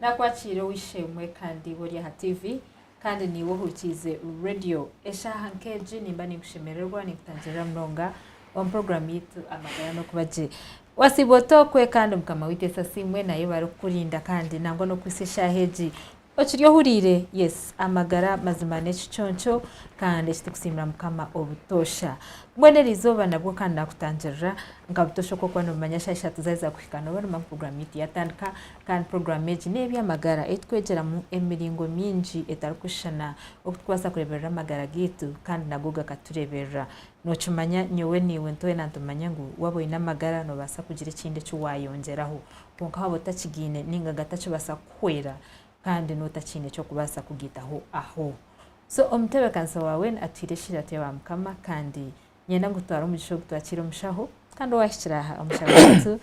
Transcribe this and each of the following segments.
Naakwakiire ow'eishe-emwe kandi iwe ori aha tiivi, kandi niiwe ohurikiize reediyo. Eshaaha nk'egi nimba ninkushemererwa, ninkutangirira munonga omu puroguraamu yaitu Amagara n'Okuba Gye. Waasiiba ota okwe kandi Mukama waitu Yesu asiimwe naaye obu arikukurinda kandi nangwa n'okuhitsya eshaaha egi okiri ohuriire? Yes, amagara mazima n'ekiconco kandi eki turikusiimira Mukama obutoosha. Mbwenu eri izooba nabwo kandi naakutangirira nka buto shoka okuba noomanya shaaha ishatu zaaheza kuhika nooba noomanya ngu puroguraamu yaitu yaatandika kandi puroguraamu egi n'eby'amagara ei twegyeramu emiringo mingi etarikushushana oku tukubaasa kureeberera amagara gaitu kandi nago gakatureeberera. Nookimanya nyowe naiwe twena nitumanya ngu waaba oine amagara noobaasa kugira ekindi eki waayongyeraho kwonka waaba otakigaine nainga gatakibaasa kukuhwera kandi n'otakiine ky'okubaasa kugaitaho aho. So omutebeekanisa waawe atuhaire ekitiinisa tuyabe aha Mukama kandi niinyenda ngu tutware omugisha ogu twakiire omu shaho kandi owaahikire aha omu shaho yaitu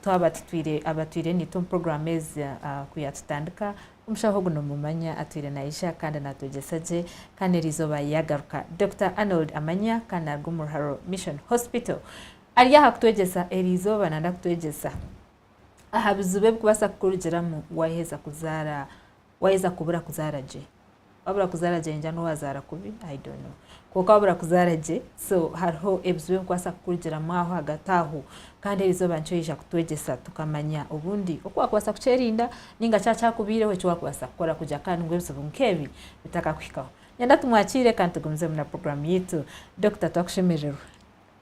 twaba tutwire aba twire naitwe omu puroguraamu ezi ku yaatutandika, omushaho ogu noomumanya atwire naija kandi naatwegyesa gye kandi eriizooba yaagaruka. Dokita Arnold Amanya kandi naaruga omu Ruharo Mission Hospital. Ari aha kutwegyesa eriizooba nanda kutwegyesa. aha bizibu ebikubaasa kukurugiramu waaheza kuzaara waaheza kubura kuzaara gye. Waabura kuzaara gye ningira n'obu waazaara kubi i don't know. Kwonka waabura kuzaara gye so hariho ebizibu ebikubaasa kukurugiramu aho ahagati aho. Kandi eri izooba nikyo riija kutwegyesa tukamanya obundi oku waakubaasa kukyerinda nainga shi kyakubaireho eki waakubaasa kukora kugira kandi ngu ebizibu nk'ebi bitakakuhikaho. Nyenda tumwakiire kandi tugumizeemu na puroguraamu yaitu. Dokita twakushemererwa.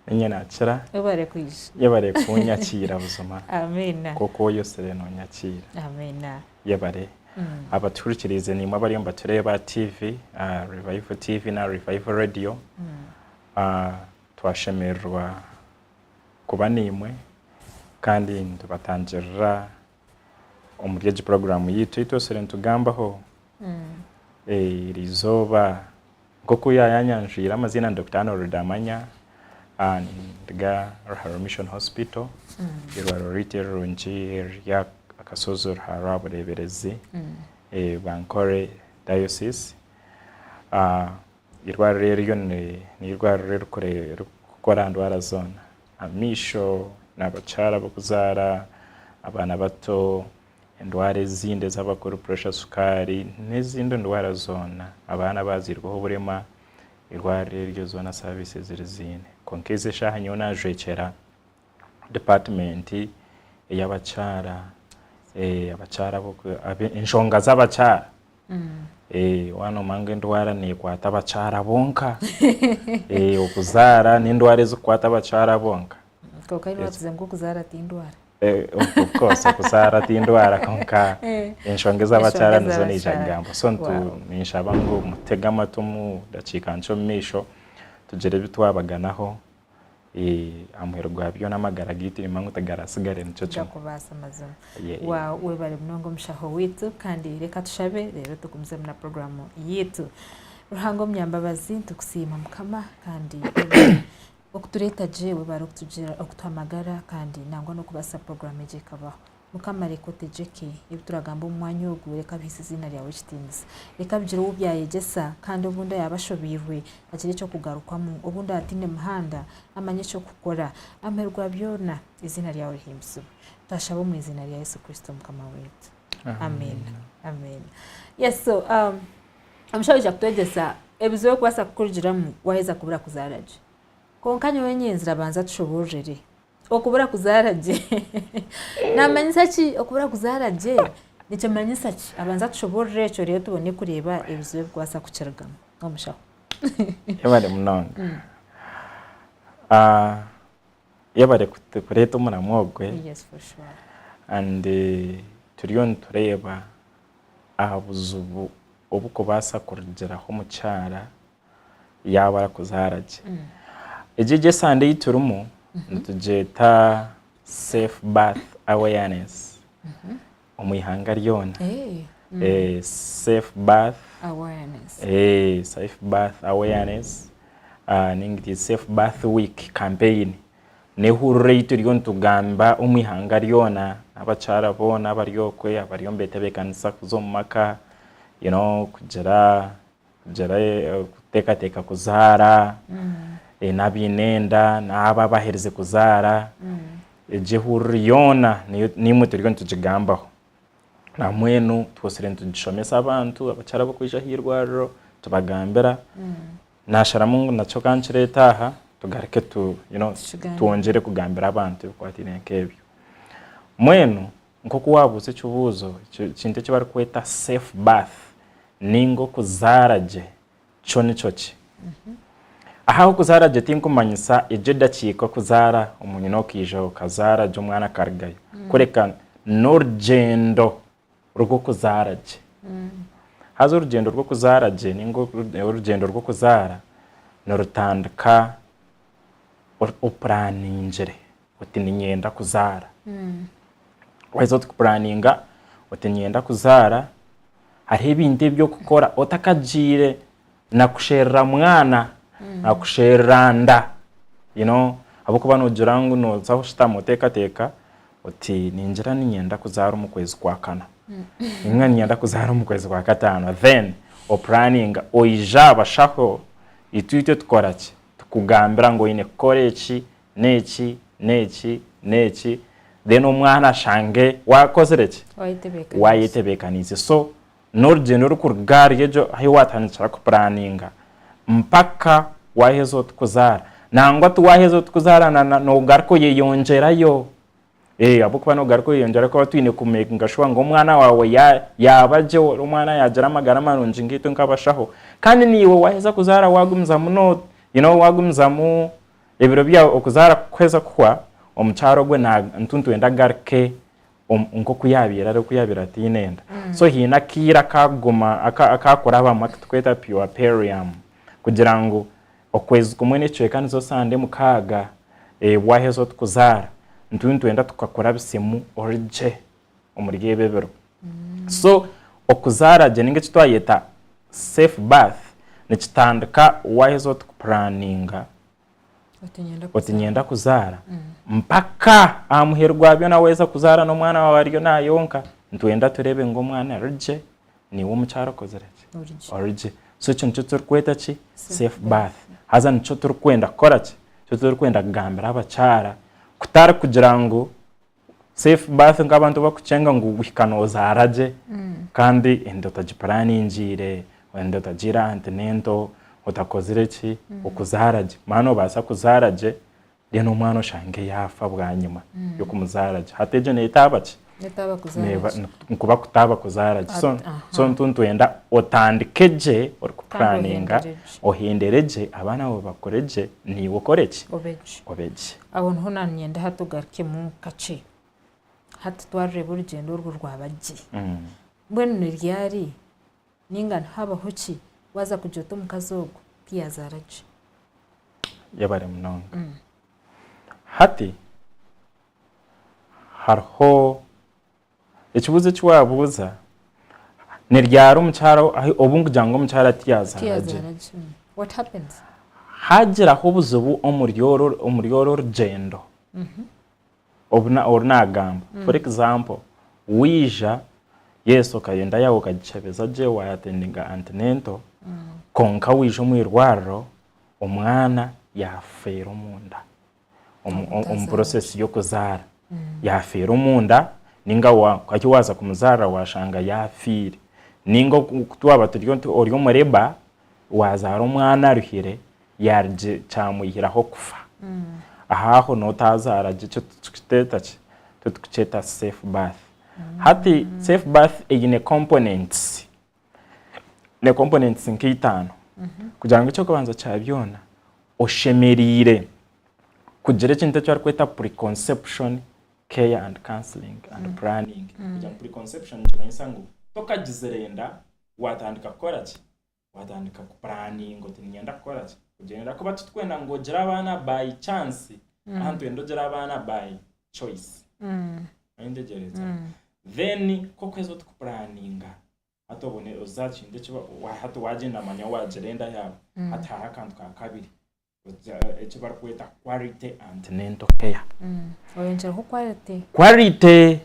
Ninye nakira. Webare kwija. Yebare kunyakiira buzima. Amina. Nk'oku oyosire nonyakiira. Amina. Yebare. Abatuhurikiriize nimwe abariyo nibatureeba aha TV, aha Revival TV na Revival Radio. Twashemererwa kuba nimwe kandi nitubatangirira. omuri egi puroguramu yaitu ei twesire nitugambaho eri izooba. Nk'oku yaaba yaanyanjwire amaziina ni Dokita Anne Rudamanya, nindiga Ruharwa Mission Hospital, eirwariro ryaitu erirungi eriri aha kashozi Ruharwa aha bureeberezi Bankole dayosiisi. Eirwariro eryo n'eirwariro eririkukora aha ndwara zoona. amaisho n'abakyara ab'okuzaara, abaana bato, endwara ezindi ez'abakuru puresha, sukaari n'ezindi ndwara zoona abaana abaazairweho oburema eirwariro eryo zoona saaviisi eziriziine kwonka ezi eshaaha nyowe naajwekyera dipaatimenti ey'abakyara, enshonga z'abakyara One omanya endwara nekwata abakyara bonka okuzaara nendwara ezikukwata abakyara bonka kwonka iwe watuze ngu okuzaara tindwara of course okuzaara tindwara kwonka enshonga ezabakyara nizo naija kugamba so ninshaba ngu mutege amatu omu dakiika nkye omumaisho tugire ebitwabaganaho aha muheru gwa byona amagara gaitu nimba ngu tigaratsigare nikyo kimwe gakubaasa mazima waawu webare munonga omushaho waitu kandi reka tushabe reero tugumizemu na puroguramu yaitu ruhanga omunyambabazi nitukusiima mukama kandi webare okutureeta gye webare okutuha amagara kandi nangwa n'okubaasa puroguramu egi ekabaho Mukama reka otegyeke ebi turagamba omu mwanya ogu, reka bihise eziina ryawe ekitiinisa. Reka bigire ou byayegyesa kandi obundi araabe ashobeirwe agire eky'okugarukamu, obundi ataine muhanda amanye eky'okukora. Amuheerwa byona, eziina ryawe rihimbisibwe. Twashaba omu iziina rya Yesu Kristo Mukama waitu. Amiina. Amiina. Yes, so um, omushaija aija kutwegyesa ebizibu ebikubaasa kukurugiramu waaheza kubura kuzaara gye. Kwonka nyowe nyenzira banza tushoboororere Okubura kuzaara gye. Naamanyisa ki okubura kuzaara gye? Nikimanyisa ki? Abanze atushoboorore ekyo reero tubone kureeba ebizibu ebikubaasa kukirugamu. Omushaho. Yebare munonga. Mm. Ah, yebare kut- kureeta omuramwa ogwe Yes, for sure. and eh, turiyo nitureeba aha buzibu obukubaasa kurugiraho omukyara yaaba arikuzaara gye. Egi egi esande ei turimu nitugyeta safe birth awareness omu ihanga ryona. Safe birth awareness ninga iti safe birth week campaign n'ehurira ei turiyo nitugamba omu ihanga ryona n'abakyara boona abari okwe abariyo nibetebekanisa kuza omu maka kugira kugira kuteekateeka kuzaara, naaba aine enda, naaba abaherize kuzaara, egyo ehururu yoona naimwe turiyo nitugigambaho. Na mbwenu tubaasire nitugishomesa abantu, abakyara abarikwija aha irwariro tubagambira. Naasharamu ngu nakyo ka nkireete aha tugaruke twongyere kugambira abantu ebikwataine nk'ebyo. Mbwenu Nk'oku waabuuza ekibuuzo, ekintu eki barikweta safe birth nainga okuzaara gye kyo nikyo ki? Aha ah'okuzaara gye tinkumanyisa egyo edakiika okuzaara omu nyina okaija okazaara gye omwana akarugayo, kureka n'orugyendo rw'okuzaara gye. Haza orugyendo rw'okuzaara gye nainga orugyendo rw'okuzaara nirutandika opuraaningire. oti niinyenda kuzaara. Waaheza oti kupuraninga oti niinyenda kuzaara, hariho ebintu ebi orikukora otakagiire na kusherura mwana, na kusherura nda you know ahabw'okuba noogira ngu nooza kushutama oteekateeka oti ningira niinyenda kuzaara omu kwezi kwa kana, ninga niinyenda kuzaara omu kwezi kwa kataano. Then opuraninga oija aha bashaho, itwe ebi tukora ki? Tukugambira ngu oine kukora eki n'eki n'eki n'eki then omwana ashange waakozire ki? Waayetebeekaniise. So n'orugyendo orikuruga ahari egyo ahi waatandikira kupuraaninga mpaka waaheza oti kuzaara. Nangwa ti waaheza oti kuzaara noogaruka oyeyongyerayo. Eeh ahabw'okuba noogaruka oyeyongyerayo kuba twine kumeekinga shuwa ngu omwana waawe yaaba gye ori omwana yaagira amagara marungi nkaitwe nk'abashaho. Kandi naiwe waaheza kuzaara waagumizamu you know waagumizamu Ebiro byawe okuzaara kukuheza kuhwa, omukyara ogwo nituntwenda agaruke nk'oku yaabaire ari, oku yaabaire ataine enda. So haine akaire akaaguma akaakurabamu aku turikweta puerperium kugira ngu okwezi kumwe n'ekicweka nizo sande mukaaga, waaheza ori kuzaara, nituntwenda tukakurabisemu ori gye. omuri ebi ebiro so okuzaara gye ninga eki twayeta safe birth nikitandika waheza oti kupuraninga oti nyenda kuzaara mm. mpaka aha muheru gwa byona waheza kuzaara n'omwana wawe ariyo nayonka nitwenda tureebe ngu omwana arigye niwe omukyara okozire ki origye so ekyo nikyo turikweta ki safe birth haza nikyo turikwenda kukora ki nikyo turikwenda kugambira abakyara kutari kugira ngu safe birth nk'abantu bakukyenga ngu guhika nozaara gye kandi enda otagipuraningiire, enda otagiire antinento, otakozire ki, okuzaara gye. Maa nobaasa kuzaara gye then omwana oshange yaafa bwanyima y'okumuzaara gye. Hati egyo netaaba ki? Netaaba kuzaara gye. Nikuba kutaaba kuzaara gye. So so nitwenda otandike gye orikupuraninga, ohendere gye, abaana baawe bakure gye, naiwe okore ki? Obe gye. Obe gye. Aho niho nanyenda hati ogarukemu kakye. Hati twarureeba orugyendo orwo rwaba gye. Mbwenu ni ryari ninga nihabaho ki waza kugya ota omukazi ogwo ti yazaara gye? Yebare munonga. Hati hariho Ekibuuzo eki waabuuza ni ryari omukyara ahi obu nkugira ngu omukyara tiyazaara gye. tiyazaara gye mm. what happens Haagiraho obuzibu omuri oru omuri oru orugyendo obu na- oru naagamba. For example, waija yes okayo enda yaawe okagikyebeza gye waayatendinga antenatal kwonka waija omu irwariro omwana yaafeera omu nda. omu process y'okuzaara yaafiira omunda ninga hati waaza kumuzaarira waashanga yaafiire ninga oku twaba turi nti ori omu labour waazaara omwana aruhire yaarugye kyamwihiraho kufa ahaaho n'otaazaara gye ekyo titukiteeta ki titikukyeta safe birth hati safe birth eine components ne components nka itaano kugira ngu ekyokubanza kya byona oshemereire kugira ekintu eki barikweta preconception care and counselling and planning. Kugira ngu preconception nikimanyisa ngu tokagizire enda watandika kukora ki? Watandika ku planinga oti niinyenda kukora ki? Kugira enda ahakuba titwenda ngu ogire abaana by chance ahaa nitwenda ogire abaana by choice Ori nitegyereza then nk'oku haza oti kupuraninga hati obone oze aha kintu eki hati wagyenda manya wagira enda yaawe hati hariho akantu ka kabiri eki bari kweta quality antenatal care oyongyeraho quality quality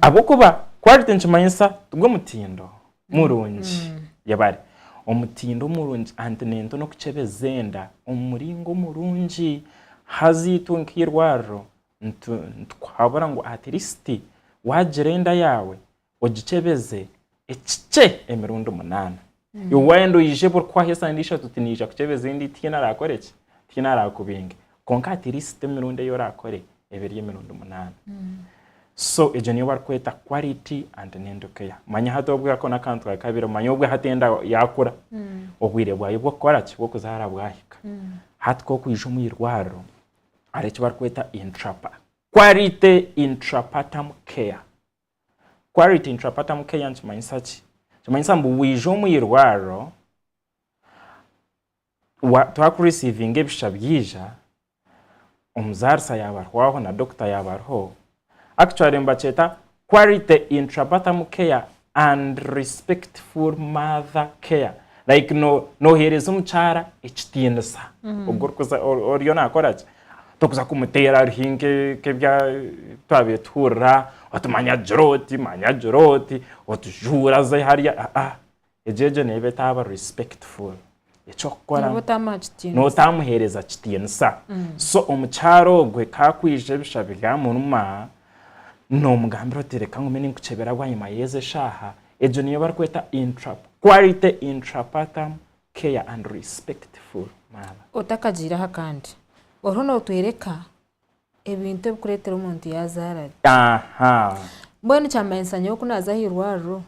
ahabw'okuba quality nikimanyisa gwe mutindo murungi yabare omutindo murungi antenatal n'okukyebeza enda omu muringo murungi haza itwe nk'eirwariro nitukuhabura ngu atirisiti waagira enda yaawe ogikyebeze ekikye emirundi munaana. Mm. Iwe waayenda oije buri kuhwaho esande ishatu oti niija kukyebeza endi tihaine araakore ki tihaine araakubinge kwonka atirisiti emirundi ei oraakore ebe eri emirundi munaana. Mm. So egyo niyo barikweta quality and nendo care. Manya hati obwe ako n'akantu kawe kabire manya obwe hati enda yaakura mm. obwire bwayo bw'okukora ki bw'okuzaara bwahika mm. hati k'okwija omu irwariro hariho eki barikweta intrapa quality intrapartum care quality intrapartum care nikimanyisa ki nikimanyisa ngu waija omu irwariro twakurisivinga ebisha byaija omuzaarisa yaaba arihwaho na dokita yaaba ariho Actually nibakyeta quality intrabatham care and respectful mother care like no noheereza omukyara ekitiinisa ogwo orikuza oriyo nakora ki torikuza kumuteera hariho nk'ebya twabaire tuhurira oti manya agira oti manya agira oti otujuura ze hariya aa Egyo egyo neyi betaba respectful. Ekyokukora Nooba otamuha kitiinisa. nooba otamuheereza kitiinisa. So omukyara ogwe ku akwija ebisha bigamuruma, noomugambira oti reka ngume ninkukyebera bwanyima y'ezi eshaaha. Egyo niyo barikweta intra quality intrapartum care and respectful mother. Otakagiireho akandi, oriho nootoreka ebintu ebikureetera omuntu yaazaara gye. Mbwenu kyamanyisa nyowe ku naaza aha irwariro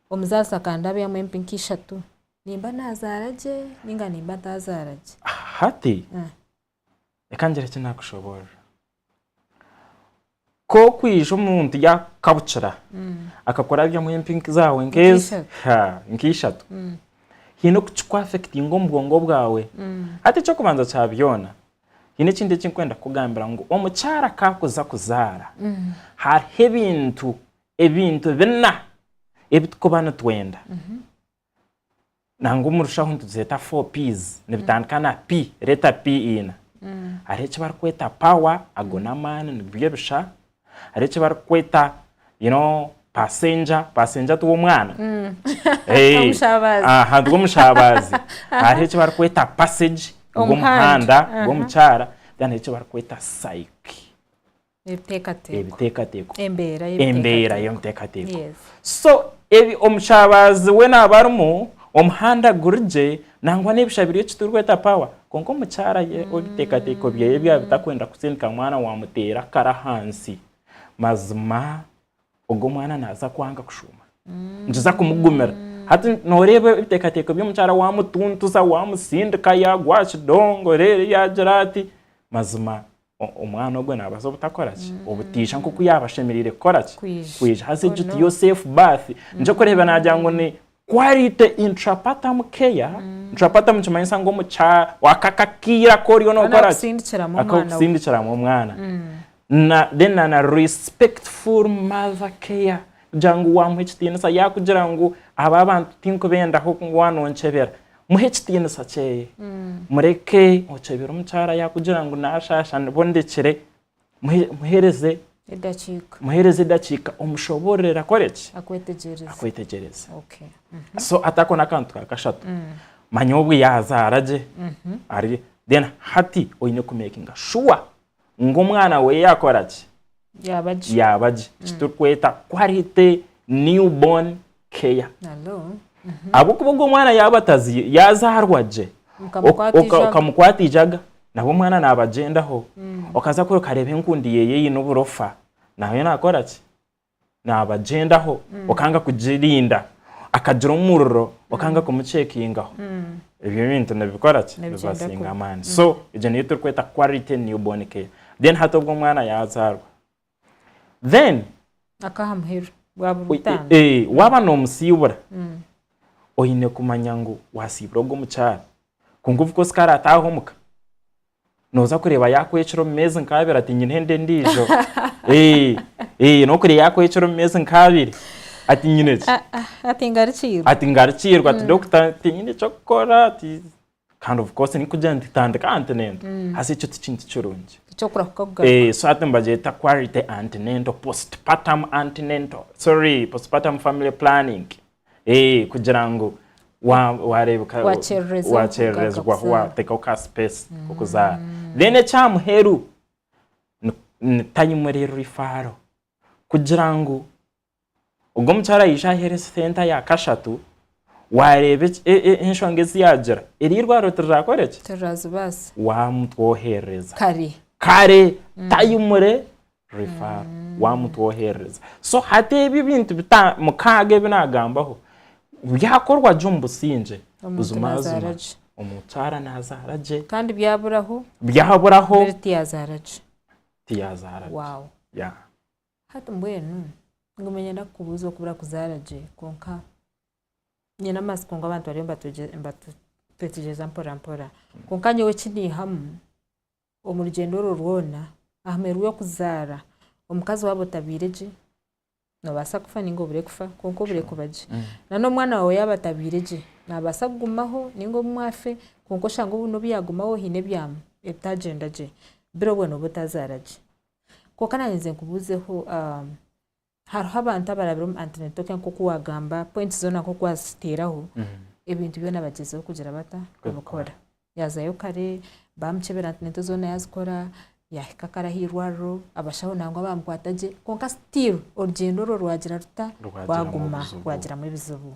omuzaarisa akandabyamu empi nka ishatu nimba naazaara gye nainga nimba ntaazaara gye. Hati reka ngire eki naakushoboorora. Ku orikwija omuntu yaakukabukira akakora abyamu empi zaawe nk'ezi, nk'eishatu, haine oku kikwaafekitinga omu bwongo bwawe. Hati eky'okubanza kya byona, haine ekintu eki ndikwenda kukugambira ngu omukyara ku arikuza kuzaara, hariho ebintu, ebintu bina ebi turikuba nitwenda. nangwa omu rushaho nituzeeta four P's nibitandika na P, letter P ina. Hariho eki barikweta power, ago n'amaani nibyo ebisha. Hariho eki barikweta you know passenger, passenger ti w'omwana? Omushaabazi. Aha nigwe mushaabazi. Hariho eki barikweta passage, nigwo Omuhanda. omuhanda gw'omukyara. Then hariho eki barikweta psyche, Ebiteekateeko. Embeera y'ebiteekateeko. So omukyabaazi we naaba arimu, omuhanda guri gye, nangwa n'ebisha biri eki turikweta power, kwonka omukyara ye ebiteekateeko bye byaba bitarikwenda kutsindika mwana waamuteera akaro ahansi, mazima ogwo mwana naaza kwanga kushuuma. Nikiza kumugumira. Hati nooreeba ebiteekateeko by'omukyara waamutuntuza, waamutsindika, yaagwa aha kidongo reero yaagira ati, mazima Omwana ogwo naabaasa obutakora ki? Obutaija nk'oku yaaba ashemereire kukora ki? Kwija haza egyo tiyo safe birth. Nikyo orikureeba naagira ngu ni quality intrapartum care. Intrapartum nikimanyisa ngu omu ka waaka akaire aku oriyo nookora ki? Aku orikusindikiramu omwana. Na then na na respectful mother care. Kugira ngu waamuha ekitiinisa yaakugira ngu aba abantu tinkubendaho ngu waanonkyebera. muhe ekitiinisa kyeye mureke okyebire omukyara yakugira ngu nashaasha nibo ndekire muhe- muhereze edakiika muhereze edakiika omushoboororere akore ki akwetegyereze akwetegyereze Okay. Mhm. so hati ako n'akantu ka kashatu manya obu yaazaara gye Ari- then hati oine kumekinga shuwa ngu omwana we yakora ki yaaba gye yaaba gye eki turikweta quality newborn care Hello. ahabw'okuba ogwo mwana yaaba atazi- yazaarwa gye Mukamukwata oka- eijaga. okamukwata eijaga nabwo omwana naabagyendaho okaza kure okareeba enkundi yeeye eine oburofa nayo naakora ki nabagyendaho okanga kugirinda akagira omuriro okanga mm. kumucekingaho mm. ebyo ebintu nibikora ki nibasinga amaani so mm. egyo niyo turikweta quality newborn care then hati obwo omwana yazaarwa then akaha muheru bwaburutaano e, e, waba nomusiibura oyine kumanya ngu wasiibura ogwo omukyara kungu of course kare ataaha omuka Noza kureba yakwecura omu mezi nkabiri ati nyine enda endijo nokureya yakwecura omu mezi nkabiri ati nyine ki ati ngarukirwe ati ngarukirwe ati doctor tinyine ekyokukora ati kandi of course nikugira nti tandika antinento hasi ekyo tikintu kirungi so ati nibagyeta quality antinento postpartum antinento sorry postpartum family planning. Ee, kugira ngu wa- wareebeka Wakyererezebwa wakyererezebwaho kugaruka kuzaara. wateekaho ka sipeesi k'okuzaara then ekya muheru ni- ni tayimurirwa ifaaro kugira ngu ogwo omukyara aije aheera esente ya kashatu waareeba eki- e- e- enshonga ezi yaagira eri eirwariro tirirakore eki? Tirazibaasa. waamutwoherereza Kare. kare tayimure referral wamutwe oherereza so hati ebi ebintu bita mukaaga ebi nagambaho byakorwa gye omu busingye Omuntu buzima nazaara buzima gye. omukyara nazaara gye kandi byaburaho byaburaho mbere tiyazaara gye tiyazaara gye wawu Yeah. hati mbwenu nguma nyenda kukubuuza okubura kuzaara gye kwonka nyine amatsiko ngu abantu bariyo nibatwegye nibatu twetegyereza mporampora kwonka nyowe eki niihamu omu rugyendo orwo rwona ahamwe rw'okuzaara omukazi waaba otabaire gye nobaasa kufa ninga obure kufa kwonka obure kuba gye nana omwana waawe yaaba atabaire gye nabaasa kugumaho ninga obumwe afe kwonka oshange obumwe obu yagumaho haine ebitagyenda gye biro obwe noba otazaara gye kwonka nanye nze nkubuzeho Hariho abantu abarabire omu Antinetoke nk'oku wagamba, points zoona nk'oku waziteeraho, ebintu byona bagyezeho kugira bata? Kubikora. Yazayo kare, bamukyebera Antineto zoona yazikora, yahika kare aha irwariro, abashaho nangwa bamukwata gye, kwonka still orugyendo orwo rwagira ruta? Rwaguma rwagiramu ebizibu.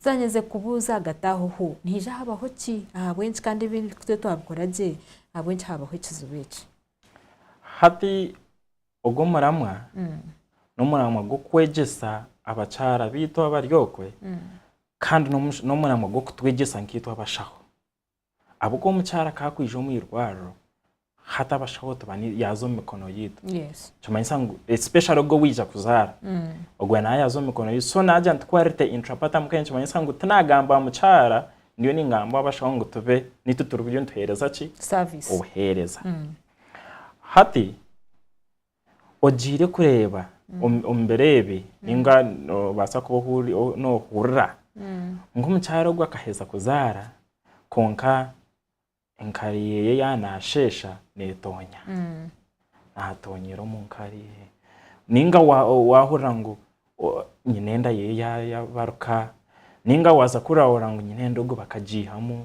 Nzanye nze kubuuza ahagati aho ho nihaija habaho ki? Ahabw'enki kandi ebi itwe twabikora gye, ahabw'enki haabaho ekizibu eki? Hati ogu omuramwa n'omuramwa gw'okwegyesa abakyara baitu abari okwe kandi n'omuramwa gw'okutwegyesa nkaitwe abashaho. Ahabw'okuba omukyara ku arikwija omu irwariro, hati abashaho yaaza omu mikono yaitu. Nikimanyisa ngu especially ogwo owaija kuzaara, ogwo nawe yaaza omu mikono yaitu. So naagira nti quality intra partum care nikimanyisa ngu tinaagamba aha mukyara ndiyo ningamba abashaho ngu tube nitu turiyo nituheereza ki? Obuheereza. Hati ogiire kureeba omu biro ebi ninga noobaasa kuba noohurira nk'omukyara ogu akaheza kuzaara kwonka Enkari ye yaaba naasheesha neetoonya, naatoonyera omu nkari ye. Nainga waahurira ngu nyina enda ye yaabaruka, nainga waaza kurahurira ngu nyina enda ogu bakagiihamu,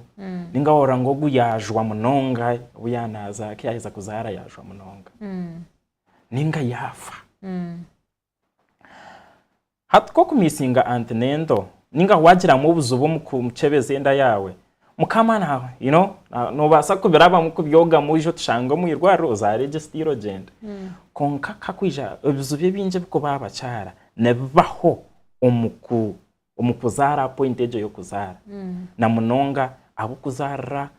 nainga waahurira ngu ogu yaajwa munonga, obu yaaba naazaara, ku yaaheza kuzaara yaajwa munonga, nainga yaafa. Hati ku okumiisinga anti n'ento, ninga ku wagiramu obuzibu omu kukyebeza enda yaawe, mukama you know nobaasa kubirabamu kubyogamu oije otushange omu irwariro ozaare gye sitiiro ogyende. Kwonka ka kwija ebizibu ebingi ebikuba aha bakyara nibibaho omu ku omu kuzaara pointi egyo y'okuzaara na munonga ahabw'okuzaarira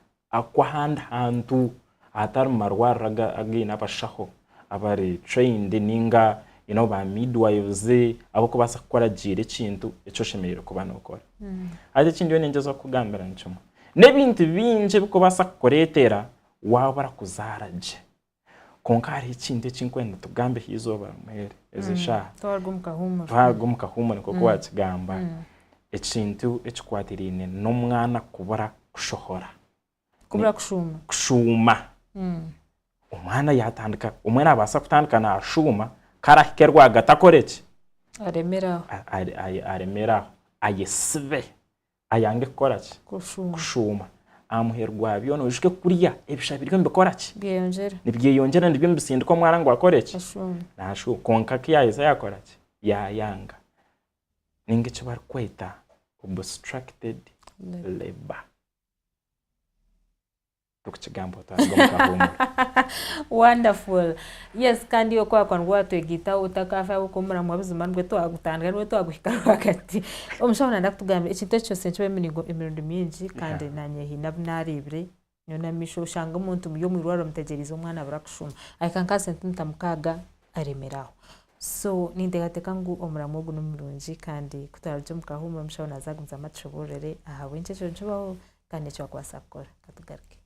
kw'ahandi hantu ahatari mu marwariro againe abashaho abari trained ninga ba midwives ab'okubaasa kukuragiira ekintu eki oshemereire kuba nookora. Haza eki ndiyo niingyeza kukugambira nikimwe n'ebintu bingi ebikubaasa kukureetera waabura kuzaara gye. Kwonka hariho ekintu eki nkwenda tugambe ha izooba rimwe eri, ezi mm. shaaha twaruga omu kahuumuro twaruga omu kahuumuro nk'oku mm. wakigamba mm. ekintu ekikwatiraine n'omwana kubura kushohora kubura kushuuma kushuuma omwana yatandika omwe naabaasa kutandika naashuuma karahike rwagati akore ki aremeraho aremeraho ayesibe Ayange kukora ki? Kushuuma. Kushuuma. Aha muheru gwa byona oijuke kurya, ebisha biriyo nibikora ki? Byeyongyera. Nibyeyongyera nibyo nibisindika omwana ngu akore ki? Ashuume. Naashuuma. Kwonka ku yaaheza yaakora ki? Yaayanga. Ninga eki barikweta obstructed labour. Ndikukigamba otaaruga omu kahuumuro. Wonderful. Yes, kandi iwe ku waakuba nibwo waatwegaitaho otakaafe ahabw'okuba omuramwa buzima nibwo twagutandika nibwo twaguhika rwagati. Omushaho naenda kutugambira ekintu eki kyose nikibaho emiringo emirundi mingi kandi naanye haine abu naareebire nyowe n'amaisho oshanga omuntu muri omu irwariro mutegyereize omwana abura kushuma ahika nka aha sentimita mukaaga aremire aho. So ninteekateeka ngu omuramwa ogu ni murungi kandi ku twaarugye omu kahuumuro omushaho naaza kugumizamu atushoboororere ahabw'enki ekyo nikibaho kandi eki wakubaasa kukora katugaruke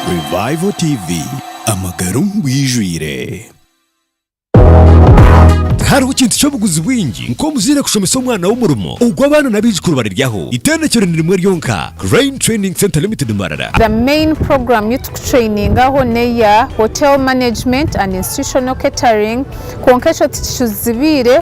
Revival TV amagara omu bwijwire. Tihariho kintu ky'obuguzi bwingi nk'omuzaire kushomesa omwana we omurimo ogu abaana n'abaijukuru bariryaho. Itendekyero ni rimwe ryonka, Crane Training Centre Limited Mbarara. The main program yu tukutrainingaho neya Hotel Management and Institutional Catering kwonka ekyo tikicuzibiire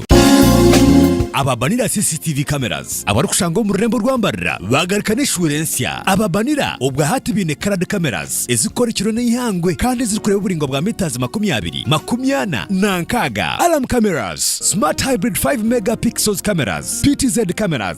Ababanira CCTV cameras abarikushanga omu rurembo rwa Mbarira baagaruka n'eshuura ensya. Ababanira obwa hati baine coloured cameras ezirikukora ekiro n'eihangwe kandi ezirikureeba oburaingwa bwa metres makumi abiri, makumi ana na nkaaga. Alarm cameras, Smart Hybrid 5 Mega Pixels cameras, PTZ cameras,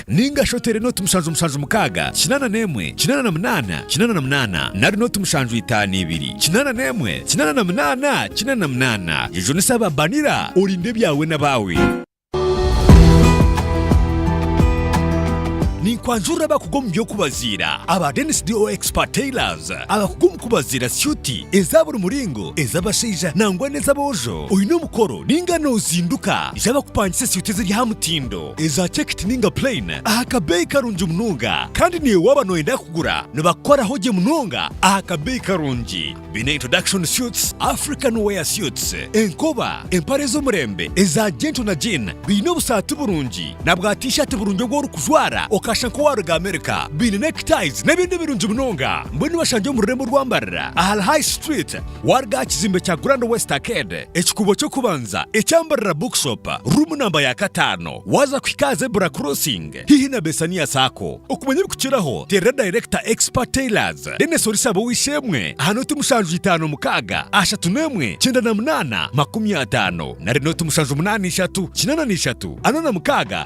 Ninga shi oteere nooti mushanju mushanju mukaaga, kinaana n'emwe, kinaana na munaana, kinaana na munaana, nari nooti mushanju itaano ibiri, kinaana n'emwe, kinaana na munaana, kinaana na munaana, egyo ni saba banira, orinde ebyawe n'abaawe. Ninkwanjurira abakugu omu by'okubaziira aba Dennis DO Expert Tailors, abakugu omu kubaziira syuti eza buri muringo, ez'abashaija nangwa n'ez'aboojo. Oine omukoro ninga nozinduka? Ija bakupangise esyuti eziri aha mutindo. Eza cekiti ninga purayini aha kabeeyi karungi munonga kandi naiwe waaba nooyenda kugura nibakukoraho gye munonga aha kabeeyi karungi. Baine Introduction Suits, African Wear Suits, enkoba, empare ez'omurembe, eza jento na jiini, baine obusaati burungi na bwa T-shirt burungi obu orikujwara okashusha nk'owaaruga Amerika, baine neckties n'ebindi birungi munonga. Mbwenu bashangye omu rurembo rw'Ambarira ahari High Street. Waaruga aha kizimbe kya Grand West Arcade, ekikuubo ky'okubanza ekya Mbarara Bookshop, ruumu namba ya kataano, waaza kuhika aha Zebra Crossing haihi na Bessania Sacco. Okumanya ebikukiraho, teerera dayirekita Expert Tailors, Dennis Orisaba ow'eishe-emwe aha nooti mushanju itaano mukaaga ashatu n'emwe kyenda na munaana makumi ataano nari nooti mushanju munaana ishatu kinaana na ishatu ana na mukaaga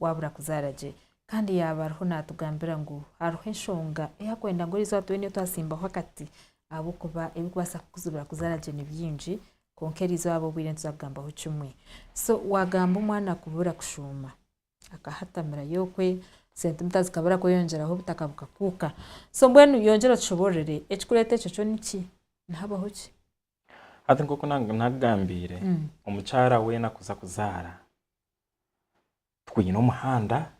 waabura kuzaara gye. Kandi yaaba ariho naatugambira ngu hariho enshonga ei arikwenda ngu eriizooba tube niyo twatsimbaho akati ahabw'okuba ebirikubaasa kukuzibira kuzaara gye ni bingi, kwonka eriizooba obwire nituza kugambaho kimwe. So waagamba omwana kubura kushuuma, akahatamira yookwe, sentimita zikabura kweyongyeraho obutaka bukakuuka. So mbwenu yongyera otushoboororere ekirikureeta ekyo kyo niki? Nihabaho ki? Hati nk'oku naakugambiire, omukyara weena kuza kuzaara, twine omuhanda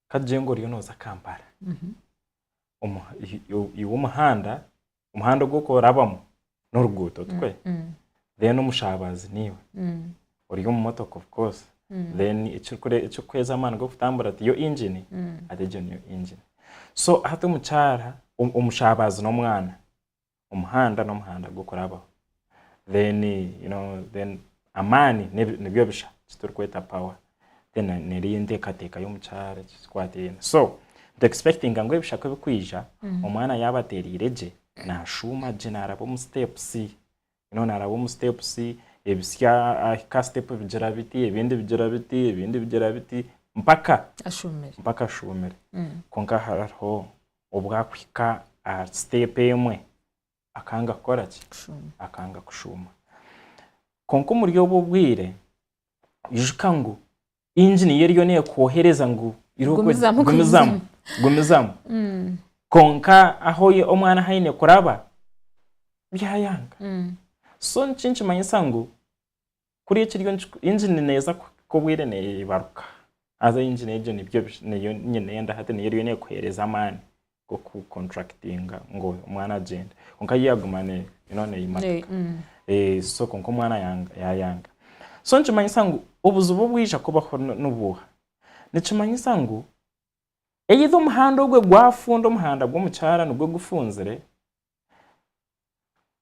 kagyenga oriyo noza kampala iwe omuhanda omuhanda ogu orikuba orabamu noruguuto tikwe then omushabazi niwe ori omu motoka of course then ekirikuhweza amaani gokutambura tiyo engine hati egyo niyo engine so hati omukyara omushabazi nomwana omuhanda n'omuhanda gw'okurabaho then you know then amaani n'ebi- nibyo bisha eki turikweta power then na- n'eri enteekateeka y'omu kyaro eki kikwataine so ntu expectinga ngu ebisha ku ebikwija omwana yaaba ateereire gye naashuuma gye naaraba omu steps you know naaraba omu steps ebitsya ahika aha step bigira biti ebindi bigira biti ebindi bigira biti mpaka ashumire mpaka ashuumire kwonka hariho obwakuhika aha step emwe akanga kukora ki? Akanga kushuuma. Kwonka omuri obwo obwire ijuka ngu engine ye eriyo nekwohereza ngu gumizamu, gumizamu. Mm. Kwonka ahu omwana ahu aine kuraba byayanga. Mm. So nikyo nikimanyisa ngu Kuriya ekiriyo nikikora, engine neeza kuhika obwire neebaruka. Haza engine egyo nibyo niyo nyine enda hati niyo eriyo neekuheereza amaani g'okucontractinga ngu omwana agyende. Kwonka yo yaaguma ne you know neeyimatika. Eeh so kwonka omwana yanga yaayanga. So nikimanyisa ngu obuzibu obwija kubaho ni nibuha? Nikimanyisa ngu either omuhanda ogwe gwafunda, omuhanda gw'omu kyaro nigwo gufunzire,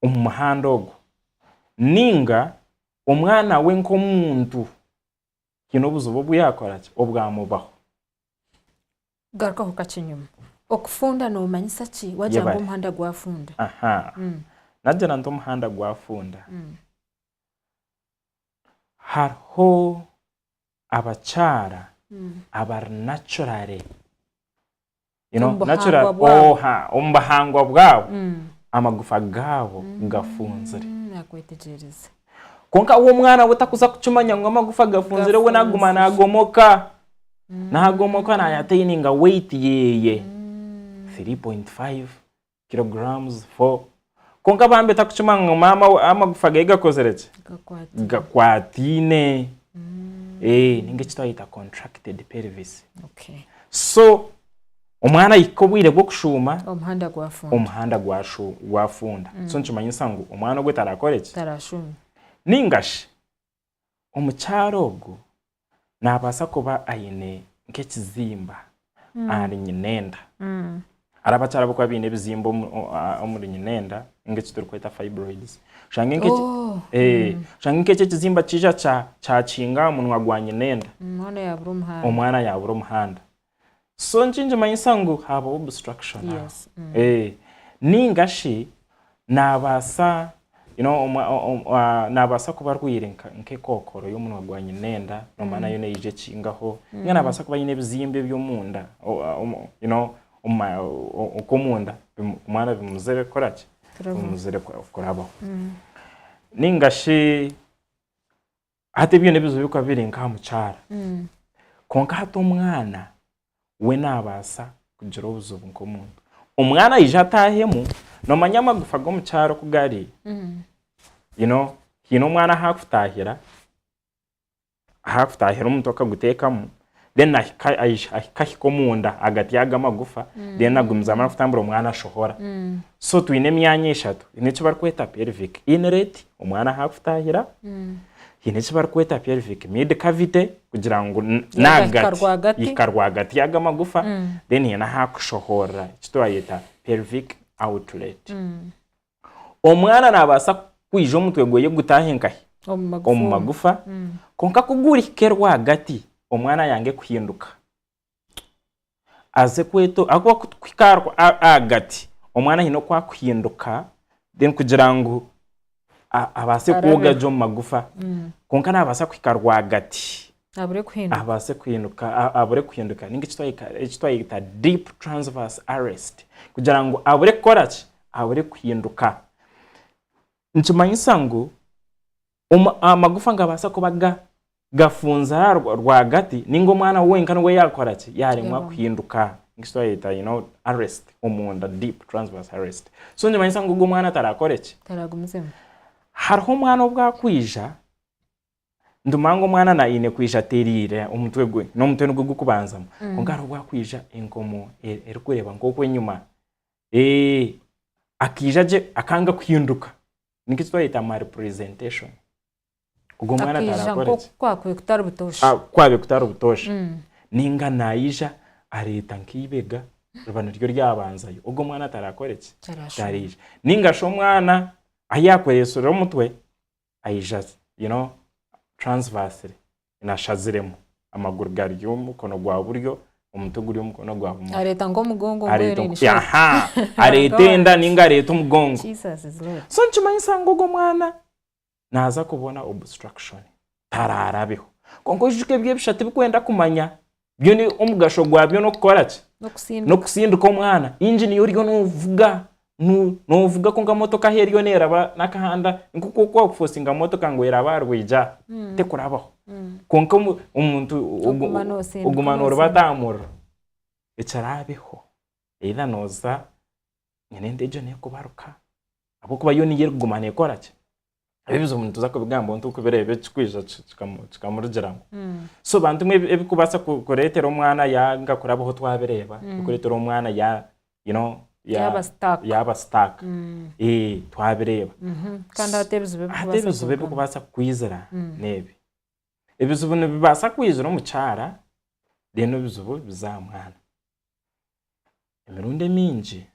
omu muhanda ogu nainga omwana we nk'omuntu haine obuzibu obu yaakora ki, obwamubaho. Garukaho kakye enyima. Okufunda noomanyisa ki waagira ngu omuhanda gwafunda? Naagira nti omuhanda gwafunda, hariho abakyara abari naturally you know, Omu natural buhangwa bwabo. oha omu bahangwa bwabo Mm. amagufa gaabo gafunzire Mm, nakwetegyereza kwonka we omwana we takuza kukimanya ngu amagufa gafunzire we naguma Gafunzire. nagomoka nagomoka nayataininga weight yeeye Mm. 3.5 kilograms four kwonka bambi takukimanya ngu maama we amagufa ge gakozire ki gakwatine gakwataine Eh, ninga eki twayeta contracted pelvis okay so omwana ahika obwire bw'okushuuma omuhanda gwafunda omuhanda gwashu- gwafunda so nikimanyisa ngu omwana ogwe tarakore ki tarashuma ningashi omukyara ogu nabasa kuba ayine nk'ekizimba ahari nyina enda. Hariho abakyara abarikuba baine ebizimba omuri nyina enda nka eki turikweta fibroids. Oshange nk'ekyo ekizimba kiija kyakinga aha munwa gwa nyina enda, omwana yabura omuhanda. So nikimanyisa ngu haabaho obstruction aho. Yes. Mm. Eh, ninga shi naabaasa you know, omwa- o- o- ah, naabaasa kuba arwaire nka- nk'ekookoro y'omunwa gwa nyinenda noomanya nayo neija ekingaho ninga naabaasa kuba aine ebizimba eby'omunda o- ah, omu- you know, omu ma- o- o- okw'omunda bimu- kumwana bimuzire kukora ki Kurabaho. bimuzire ku- kurabaho ninga shi Hati ebyo n'ebizibu ebirikuba biri nk'aha mukyara. Kwonka hati omwana we naabaasa kugira obuzibu nk'omuntu. Omwana aija ataahemu, noomanya amagufa g'omukyara oku gari, you know haine omwana ahu akutaahira, ahu akutaahira omutu akaguteekamu, then ahika ahi- ahika ahika omunda agati yago amagufa then agumiza amara kutambura omwana ashohora so twine emyanya eshatu haine eki barikweta pelvic inlet omwana ahu arikutahira haine eki barikweta pelvic mid cavity kugira ngu n- Yagahika nagati rwagati. yahika rwagati yago amagufa then haine ahu akushohorera eki twayeta pelvic outlet Omwana naabaasa kwija omutwe gwe gutaahe nkahi? Omu magufa. Mm. Kwonka ku gurihike rwagati, omwana yange kuhinduka aze kweto ahakuba ku turikuhika ahagati, omwana haine oku arikuhinduka then kugira ngu abaase kwogya gye omu magufa. Mm. Kwonka naabaasa kuhika rwagati. Abure kuhinduka. abaase kuhinduka abure kuhinduka ninga eki twayeta deep transverse arrest kugira ngu abure kukora ki abure kuhinduka nikimanyisa ngu amagufa nigabaasa kuba gafunzire aha rwagati ninga omwana wenka niwe yakora ki yaremwa kuhinduka ninga eki twayeta arrest omunda deep transverse arrest so nikimanyisa ngu ogwo mwana atarakore ki. Hariho omwana obu akwija Nduma ngu omwana na aine kwija atereire omutwe gwe n'omutwe nigwo gurikubanzamu mm. kwonka hariho obwakwija enkomo e, erikureeba nk'okwo enyuma eh, akaija gye akanga kuhinduka niki twayeta malpresentation ogwo mwana atarakore ki kwabe kutari butoosha ah, kwabe kutari butoosha mm. ninga naija areeta nk'eibega riba niryo ryabanzayo ogwo mwana atarakore ki tariija ninga shi omwana ahi yakoreesire omutwe aija you know transversely ashaziremu amaguru gari omu mukono gwa buryo omutwe guri omu mukono gwa bumosho areeta nk'omugongo areeta enda ninga areeta omugongo so nikimanyisa ngu ogwo mwana naaza kubona obstruction taraarabeho kwonka oyijuke ebi ebisha tibikwenda kumanya byo ni omugasho gwabyo n'okukora ki n'okusindika n'okusindika omwana engine yo oriyo novuga nu- novuga kwonka motoka ahu eriyo neraba n'akahanda nk'oku okuba wakufosinga motoka ngu eraba aha rwigi aha tekurabaho Mm. kwonka omu- omuntu ogu- Oguma nosindika, oguma norubata nosindika. aha muriro ekiraabeho either noza nyine ente egyo nekubaruka ahabw'okuba yo niyo erikuguma nekora ki Ebi ebizibu nituza kubigambaho nituza kubireeba ekirikwija kikamurugiramu. Hmm. So bantu bimwe ebirikubaasa kureetera omwana yaanga kurabaho twabireeba, hmm. ebirikureetera omwana you know, yaaba sitaaka hmm. eh, twabireeba mhm. kandi hati ebizibu ebirikubaasa kukwizira n'ebi ebizibu nibibaasa kwizira omukyara then ebizibu biza aha mwana emirundi emingi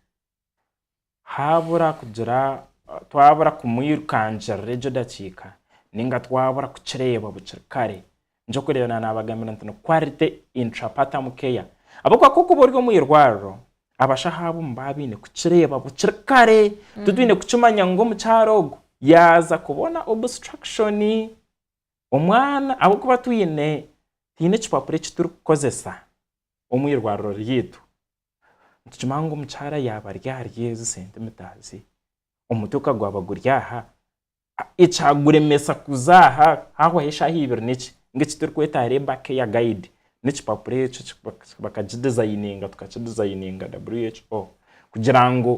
haabura kugira twabura kumwirukangirira egyo dakiika ninga twabura kukireeba bukiri kare nikyo kwiririra na nabagambira nti ni quality intrapartum care ahabw'okuba ku okuba ori omu irwariro abashaho abo nibaba baine kukireeba bukiri kare titwine kukimanya ngu omukyara ogu yaaza kubona obstruction omwana ahabw'okuba twine twine ekipapura eki turikukozesa omu irwariro ryaitu. Nitukimanya ngu omukyara yaaba ari ahari ezi sente mutaazi, omutwe ka gwaba guri aha, ekyaguremesa kuza aha haahwaho eshaaha ibiri n'eki ngu eki turikweta labour care guide n'ekipapura ekyo eki bakagidizayininga tukakidizayininga WHO kugira ngu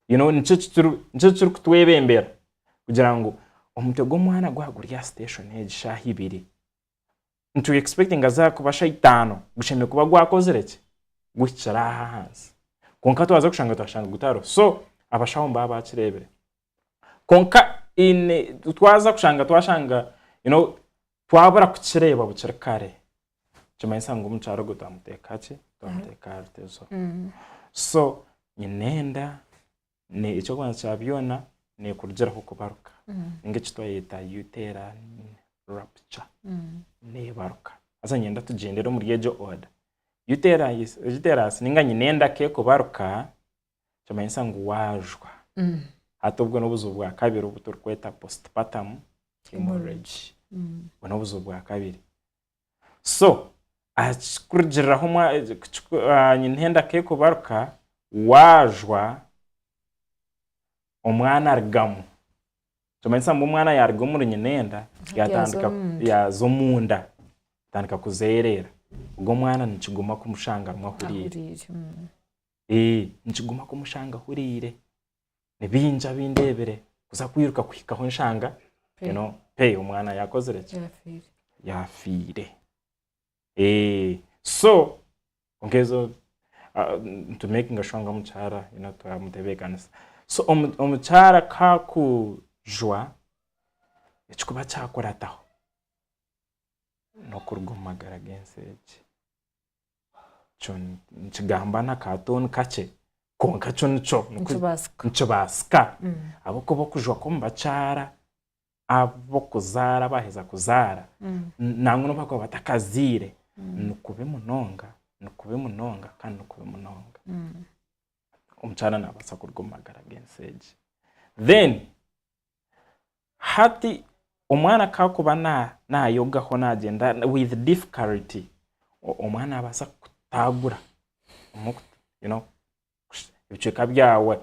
you know nikyo eki turi nikyo eki turikutwebembera kugira ngu omutwe gw'omwana gwaba guri aha station egi shaaha ibiri nitu expectinga za kuba shaitaano gushemereire kuba gwakozire ki? Guhikire aha ahansi. Kwonka twaza kushanga twashanga gutariho. So abashaho nibaba baakireebire. Kwonka in twaza kushanga twashanga you know twabura kukireeba bukiri kare, nikimanyisa ngu omukyaro ogwo twamuteeka ki? Twamuteeka aha rutezo. So nyine enda, Eky'okubanza kya byona nekurugiraho kubaruka ninga eki twayeta uterine rupture nebaruka. Haza niinyenda tugyendere omuri egyo order. Uterus ninga nyina endaka ekubaruka nikimanyisa ngu waajwa. Hati obwo n'obuzibu bwa kabiri obu turikweta postpartum haemorrhage. Obwo n'obuzibu bwa kabiri. So kurugiriraho nyine henda k'ekubaruka waajwa omwana arugamu, nikimanyisa ngu omwana yaaruga omuri nyina enda yaatandika yaaza omunda yaatandika kuzeereera, ogwo omwana nikiguma kumushangamu ahuriire. Nikiguma kumushangamu ahuriire. ni bingi abindeebire kuza kwiruka kuhika ahu nshanga you know, pe omwana yakozire ki Yafiire. yafiire Eh, so kwonka ezo ah, nitumakinga shuwa ngu omukyara you know, twamutebeekanisa so omu- omukyara ku akujwa ekikuba kyakurataho n'okuruga omu magara g'ensi egi nikigamba n'akatooni kakye kwonka kyo nikyo nikibaasika ahabw'okuba okujwa kw'omubakyara ab'okuzaara baaheza kuzaara nangwa n'obu baakuba batakazaire nikubi munonga nikubi munonga kandi nikubi munonga omukyara naabaasa kuruga omu magara g'ensi egi. Hati omwana ku arikuba nayogaho nagyenda with difficulty, omwana nabaasa kukutagura ebicweka byawe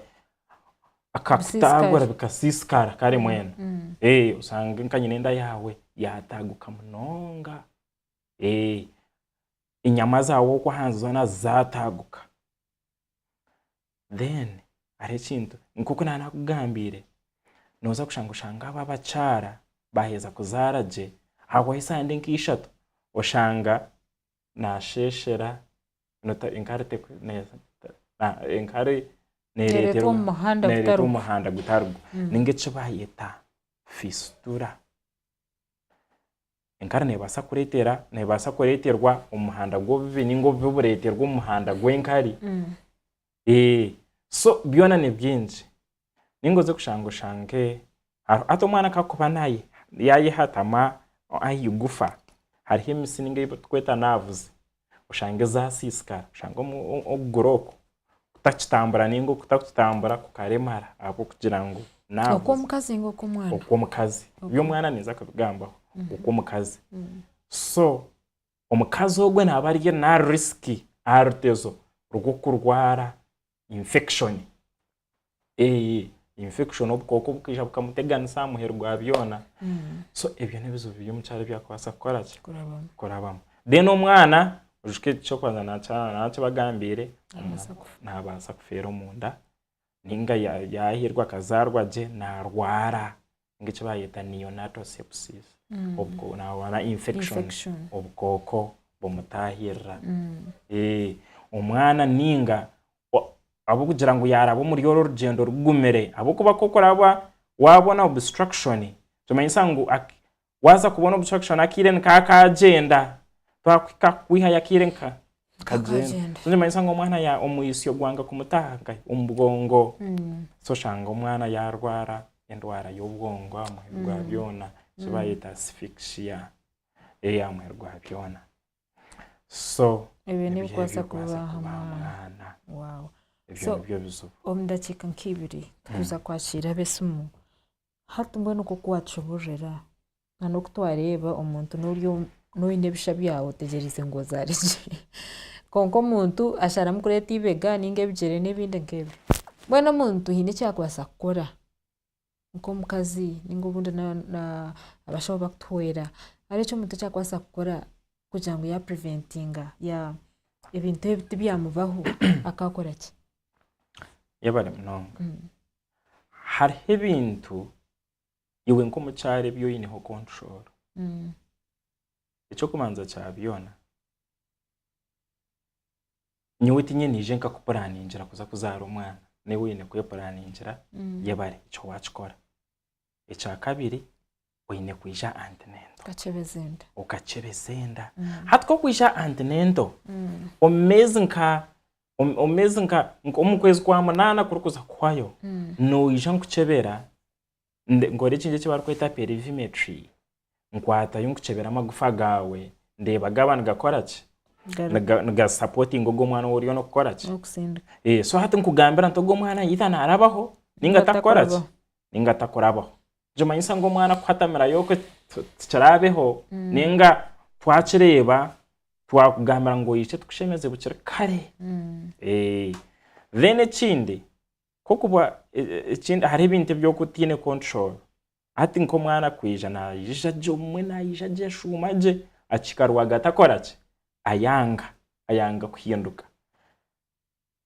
akakutagura bikasisikara kare mbwenu oshange nka nyina enda yaawe yataguka munonga, enyama zaawe oku ahansi zoona zataguka. then hariho ekintu nk'oku naaba naakugambiire nooza kushanga oshanga abo abakyara baaheza kuzaara gye ahahwaho esaaha ndi nka ishatu oshanga naasheeshera nota- enkari teku- ne- ta- na- enkari Neereetwa neereeterwa omu muhanda neereetwa gutari omu gwo. muhanda gutari gwo ninga eki baayeta fisitura Enkari nebaasa kureetera nebaasa kureeterwa omu muhanda gw'obubi ninga obubi bureeterwa omu muhanda gw'enkari so byona ni bingi ninga oze kushanga oshange hati omwana ku arikuba yayehatamu aha igufa hariho emitsi ninga ei turikweta naavuzi oshange zaasiisikara, oshange okuguru oku kutakitambura nainga okutakutambura kukaremara ahabw'okugira ngu naabuza. Okw'omukazi nainga okw'omwana? Okw'omukazi. Eby'omwana ninza kubigambaho. Okw'omukazi. So omukazi ogwo naaba ari naari risiki aha rutezo rw'okurwara infection. Eeh infection obukooko bukaija bukamuteganisa aha muheru gwa byona. So ebyo n'ebizibu biri omukyaro ebi arikubaasa kukora ki? Kurabamu. Then omwana oyijuke eky'okubanza naakyanga nana eki bagambiire, naabaasa kufeera omunda nainga yaahirwa akazaarwa gye naarwara. ninga eki baayeta neonatal sepsis obukoko infection obukooko bumutaahirira omwana ninga ahabw'okugira ngu yaaraba omuri orwo rugyendo rugumire ahabw'okuba ku orikureeba waabona obstruction nikimanyisa ngu waaza kubona obstruction akaire nikakaagyenda twakuhika kwihayo akaire nka Akagyenda. So nikimanyisa ngu omwana ya, omwisyo gwanga kumutaha nkahi? Omu bwongo. So oshanga omwana yarwara endwara y'obwongo aha muheru gwa byona, eki bayeta asphyxia, eh, aha muheru gwa byona. So, Ebyo nibyo nibikubaasa ebirikubaasa kuba aha kuba aha mwana. mwana. Wow. Ebyo So- nibyo bizibu. omu dakiika nk'ibiri tikuza kwakiira ab'esimu hati mbwenu nk'oku waakihuurira Nana oku twareeba omuntu nori oyine ebisha byawe otegyereize ngu ozaare gye kwonka omuntu asharamu kureeta eibega ninga ebigyere nebindi nkebyo mbwenu omuntu haine eki akubaasa kukora nkomukazi ninga obundi abashaho bakutuhwera hariho eki omuntu akubaasa kukora kugira ngu ebintu ebi tibyamubaho akakora ki? Yebare munonga hariho ebintu iwe nk'omukyara ebi oyineho control ekyokubanza kya byona nyowe tinye niije nkakupuraningira kuza kuzaara omwana newe oyine kwepuraningira yebare ekyo wakikora ekyakabiri oyine kwija antinento okakyebeza enda hati kokwija antinento omu meezi nka omu meezi nka omu kwezi kwa munaana kurikuza kuhwayo noija nkukyebera nde- nkora ekindi eki barikweta perivimetry. Nkwatayo nkukyebera amagufa gaawe ndeeba gaaba nigakora ki? Garu- Niga- Nigasapootinga ogwo mwana ou oriyo nookukora ki? nokusindika Eh, so hati nkugambira nti ogwo omwana either naarabaho nainga Nainga atakukora ki? atakurabaho. Nainga atakurabaho. Nikimanyisa ngu omwana kuhatamirayo okwe ti- tikiraabeho nainga twakireeba, twakugambira ngu oije tukushemeze bukiri kare. Eh, then ekindi, Nk'okuba ekindi hariho ebintu ebi oku otaine control. Hati nk'omwana kwija naija gye obumwe naija gye ashuuma gye akihika rwagati akora ki? Ayanga, ayanga kuhinduka.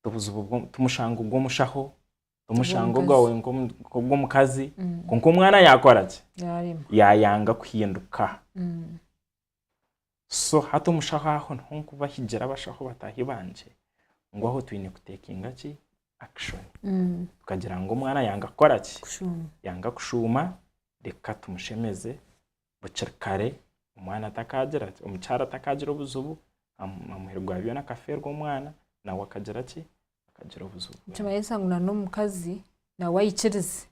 Obuzibu bwo tumushanga ogw'omushaho, tumushanga ogwawe nk'ogw'omukazi, kwonka omwana yaakora ki? Yaayanga kuhinduka. so hati omushaho aho niho nkubahigira abashaho bataahi bangye ngu aho twine kutekinga ki action tukagira ngu omwana yanga kukora ki kushuuma yanga kushuuma reka tumushemeze bukiri kare omwana atakagira ki omukyara atakagira obuzibu amu- amuhe rwabyona akafeerwa omwana nawe akagira ki akagira obuzibu nikimanyisa ngu na n'omukazi nawe aikirize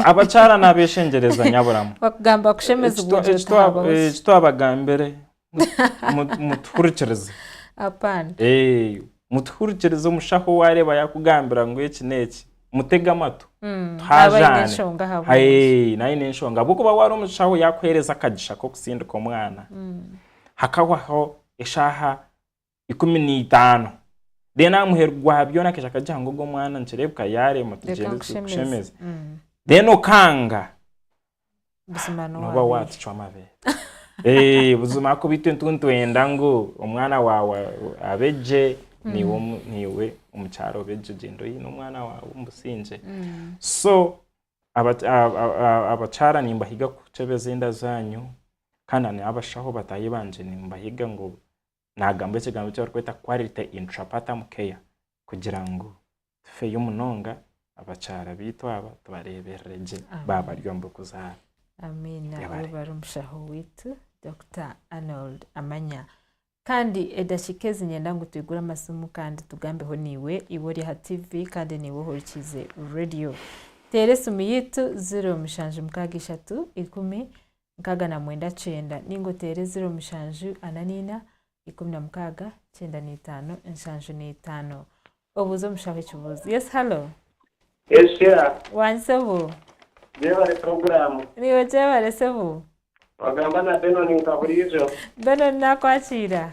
Abakyara nabeshengyereza nyaburamu ekitwabagambire mutuhurikirize mutuhurikirize omushaho wareeba yakugambira ngu eki neki mutege amatu mm, naine enshonga ahabwokuba wari omushaho yakuhereza akagisha kokusindika omwana mm. hakawaho eshaha ikumi na itaano then amuhe rwa byona akaija akagiha ngu ogu omwana nikireebeka yaaremwa Reka tugyende nkushemeze. tukushemeze Mm. then okanga Buzima noba n'owaabere. waatucwa amabeere Eh, buzima ahakuba itwe tintwenda ngu omwana waawe abe gye niiwe omu- niiwe omukyara obe gye gyenda oine omwana waawe omu busingye Mm. so aba- a- a- a- abakyara nimbahiga kukyebeza enda zaanyu kandi n'abashaho bataahi bangye nimbahiga ngu naagambwa ekigambo eki barikweta quality intrapartum care kugira ngu tufeyo munonga abakyara baitu aba tubareeberere gye baaba bari omu bikuzaara. Amiina. Yabare. Oyo bari omushaho waitu Dokita Arnold Amanya. Kandi edakiika ezi nyenda ngu twigure amasimu kandi tugambeho naiwe, iwe ori aha TV kandi naiwe ohurikiize radiyo. Teera esimu yaitu ziro mushanju mukaaga ishatu ikumi nkaaga na mwenda kyenda ninga oteere ziro mushanju ana naina ikumi na mukaaga kyenda na itaano nshanju na itaano obuuze omushaho ekibuuzo yes hallo Yes Sheila. Wangi sebo. Gyebare program. Niiwe gyebare sebo. Wagamba na Benon nka buriijo. Benon naakwakiira?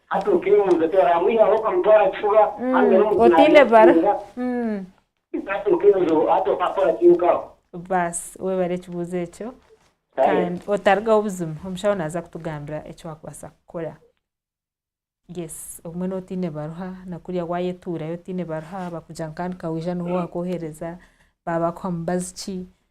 Hati okeebuuza oti oraamwihaho okamutwara aha kifuba haza n'omu otaine bara. kunaabira Hati okeebuuza obu hati okaakora ki nka aho? Baasi webare ekibuuzo ekyo Kare. kandi otarugaho buzima omushaho naaza kutugambira eki waakubaasa kukora. Yes obumwe nooba otaine baruha na kuriya waayetuurayo otaine baruha bakugira ngu kandi ka waija niho waakwohereza, baabakuha mubazi ki?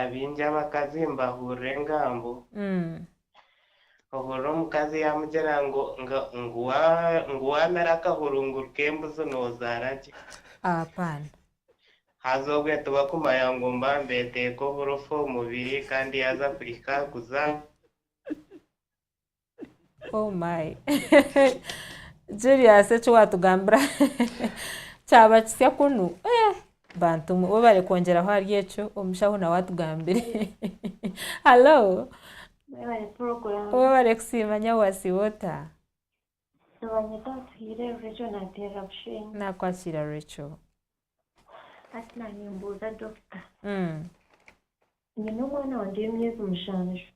Abaingi abakazi nibahurira engambo ohurira omukazi yamugira ngu ngu wamera akahurunguru k'embuzi nozaara gye. Haza obwe tibakumanya ngu mba mbeteeka oburofa omu mubiri kandi yaaza kuhika kuzaara. Oh my Julius eki watugambira kyaba kisya kunu eh bantu mwe webare kwongyeraho ahari ekyo omushaho nawe atugambire hallo Mwebare program. webare kusiima nyawe wasiiba ota Nibanyeta Atuhiire Rachel Nateerera Bushenyi. nakwasiira Rachel Hati na nimbuuza dokita nyine omwana wangye w'emyezi mushanju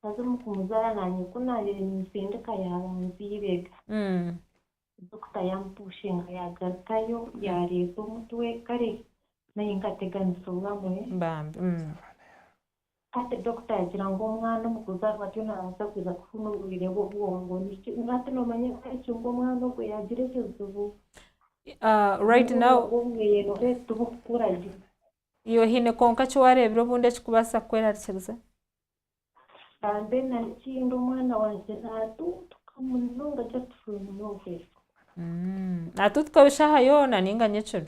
haza omu kumuzaara naanye ku naabaire ninsindika yaabanza eibega dokita yaamupushinga yaagarukayo yaareeta omutwe kare naanye nkateganisa obumwe bambi. Hati dokita yagira ngu omwana omu kuzaarwa atyo naabaasa kuza kufuna oburwaire bw'obwongo. Niki, hati noomanya eki ngu omwana ogwo yaagira ekizibu right now. Obwongo bwe reero tibukukura gye. Iwe haine kwonka eki waareebire obundi ekikubaasa kukwerarikiriza? Mbwenu narikindi omwana wangye naatuutuka munonga just from nowhere. Naatuutuka bushaho yoona nainga nyekiro?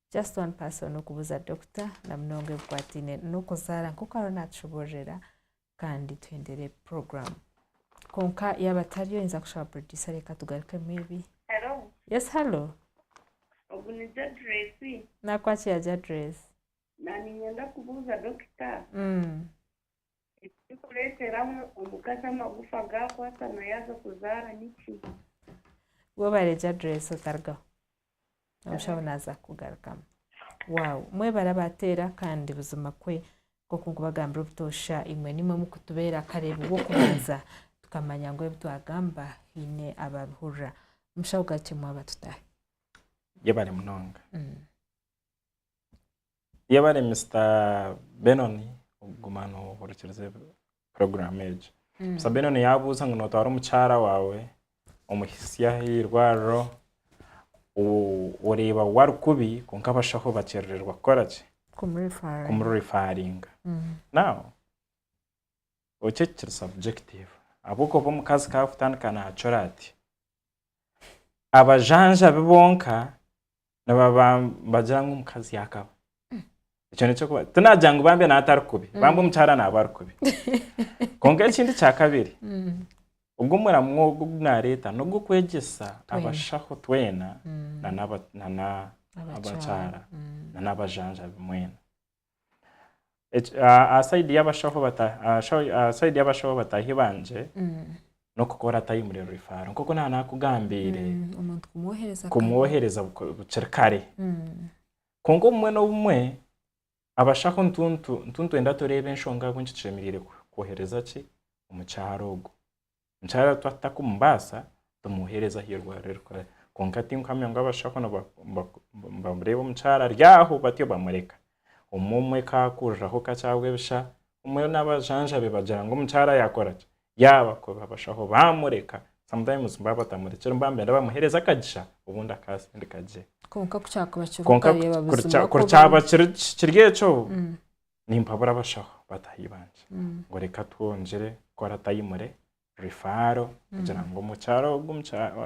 Just one person okubuza doctor na munonga ebikwataine n'okuzaara nk'oku ariyo natushoboororera kandi tuhendere program kwonka yaaba tariyo oyinza kushaba producer reka tugaruke maybe Hello, yes hello ogu ni Jadress. nakwakira Jadress Naaniinyenda kubuuza dokita mm. Ekirikureetera omukazi amagufa gaakwatana yaaza kuzaara niki? Waaba oreegye adireesi otarugaho, omushaho naaza kukugarukamu. Waawu! Mwebare abaateera kandi buzima kwe nk'oku nkubagambira obutoosha imwe nimwe mukutubeera akareeba ow'okubanza tukamanya ngu ebi twagamba haine abaabihurira. Mushaho garukyemu aba tutaahe. Yebare munonga. Yee bari Mister Benon guma nohurikiriza puroguramu egyo. Mister Benon yabuuza ngu notwara omukyara waawe omuhitsya aha irwariro oreeba waaba ari kubi kwonka abashaho bakyerererwa kukora ki? kumurifaringa. Now ekyo kiri subjective ahabw'okuba omukazi ku arikutandika naacura ati, abajanjabi bonka nibaba nibagira ngu omukazi yaakaba ekyo nekyokuba tinagira ngu bambi nawe atari kubi mm. bambi omukyara naaba ari kubi kwonka ekindi kya kabiri mm. ogwo omuramu ogwo ogu naareeta n'ogw'okwegyesa abashaho twena mm. nana abakyara nana abajanjabi mwena aha sayidi y'abashaho bataahi bangye n'okukora tayimuri rifaro nk'oku naaba naakugambiire kumwohereza bukiri kare kwonka obumwe n'obumwe abashaho nitwenda tureeba enshonga ahabw'enki tushemereire kwohereza ki omukyara ogwo. Nkyara twaba tutakumubaasa, tumuheereze ahu eirwariro ririkukorera. Kwonka tinkuhamya ngu abashaho nibareeba omukyara ari aho batyo bamureka. Omwe omwe ka akuriraho kakye ahabw'ebisha, omwe n'abajanjabi bagira ngu omukyara yaakora ki? Yaabakoba. Abashaho baamureka, sometimes baaba batamurekire omu baambeera bamuheereza akagisha obundi akaasindika gye. Kwonka ku kyakuba kiri oku, Kwonka ku, okareba buzima ku oku biri. kuryaba kiri kiri ekyo, nimpabura abashaho bataahi bangye mm. ngu reka twongyere kukora tayimure rifaaro mm. kugira ngu omukyara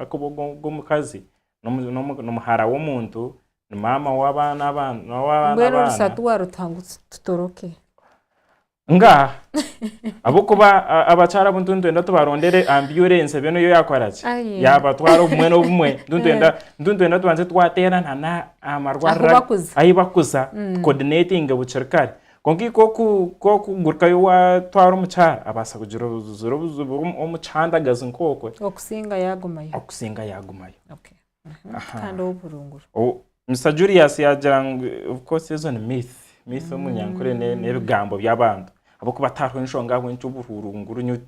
akuba ogw'omukazi n'omuhara w'omuntu ni maama w'abaana abaanambwenu orusatu warutaha ngu tutoroke nga ahabw'okuba abakyara abu ntuntwenda tubarondere ambyurensi ebyo niyo yakora ki yabatwara obumwe n'obumwe ntuntwenda tubanze twateerana aha marwariro ahu bakuza tukoodineetinge bukiri kare. Kwonka eikukugurukayo waatwara omukyara abaasa kugira obuzibu omu kihandagazi nk'okwe. Okusinga yaagumayo. Okusinga yaagumayo. Mister Julius yaagira ngu of course ezo ni myth. Myth omu nyankore n'ebigambo by'abantu ahabw'okuba tihariho enshonga ahabw'enki obuhurunguru nyowe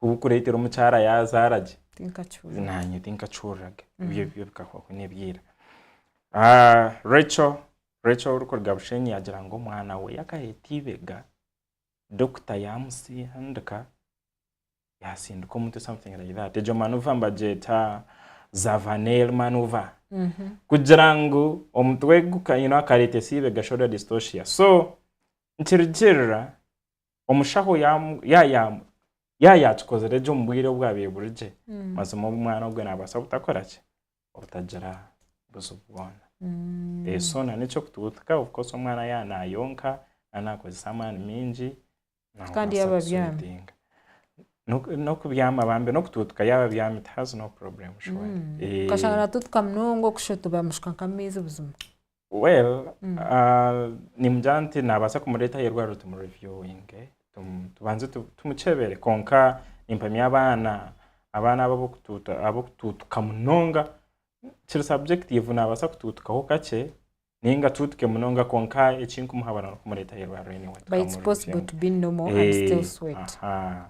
oburikureetera omukyara yaazaara gye. Tinkakihurira. Naanye tinkakihurira gye. Ebyo bikahwaho n'eby'eira. Rachel orikuruga Bushenyi yaagira ngu omwana we yaakaheta eibega, dokita yaamusindika yaatsindika omutwe something like that. Egyo manuva nibagyeta Zavaner manuva. Kugira ngu omutwe akareetesa eibega shoulder dystocia. So nikirugiirira omushaho yaaba yaakikozire gye omu bwire obwaabaire buri gye, mazima omwana ogwo naabaasa butakora ki? otagira buzibu bwona so na n'eky'okutugutika kukoresa omwana yaba nayonka nari nakozesa amaani mingi Kandi yaba abyami. n'okubyama bambi n'okutugutika yaba abyami it has no problem surely. Eh, Okashanga natutuka munonga okushotoba amushukaka amaizi buzima. Well nimugira nti nabaasa kumureeta aha irwariro tumureviewinge tubanze tumukyebere kwonka nimpamya abaana abaana abo ab'okutuutuka munonga kiri subjective nabaasa kutuutukaho kakye ninga atuutuke munonga kwonka ekinkumuhabura n'okumureeta aha irwariro anyway tukamureviewinga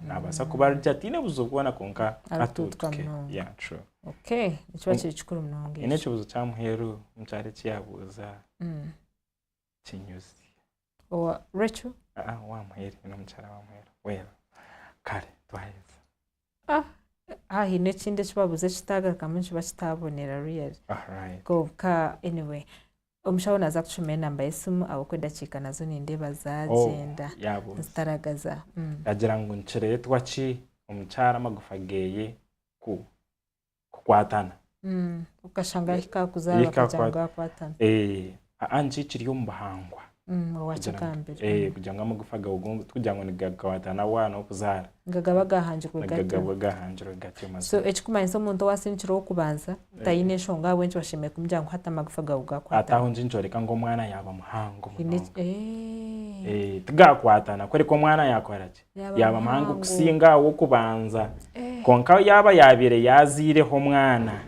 nabaasa kuba arigye ataine buzibu bwona kwonka atuutuke yeah true. Okay, nikiba kiri kikuru munonga ekyo. N'ekibuzo kya muheru nikyari eki yabuuza mm. Kinyuzi. Owa Rachel? Ah, ah wa muheru, ni omukyara wa muheru. Well, kare twaheza. Ah, ah haine ekindi eki babuuza ekitaagarukamu nikiba kitaabonera really. Ah, right. Kwonka anyway omushaho naaza kutushoma enamba y'esimu ahabw'okuba edakiika nazo nindeeba oh, zaagyenda oh, nizitaragaza. Mm. Yagira ngu nikireetwa ki omukyara amagufa geeye kukwatana mm, okashanga yahikakuzaara bakagira ngu akwatana eh, aa nikyo ekiri omu buhangwa mm, eh, mm. kugira ngu amagufa gawe tikugira ngu nigakwatana wa n'okuzaara gagaba gahangirwe gagaba gahangirwe gatyo so ekikumanyisa omuntu owasindikirwe ow'okubanza eh. taine enshonga ahabw'enki bashemereire kumugira ngu hati amagufa gawe gakwatana ate aho ngi nikyoreka ngu omwana yaaba muhango munonga eh. tigakwatana kureka omwana yaakora ki Yaaba mwangu kusinga ow'okubanza. Kwonka yaaba yaabaire yaaziireho omwana,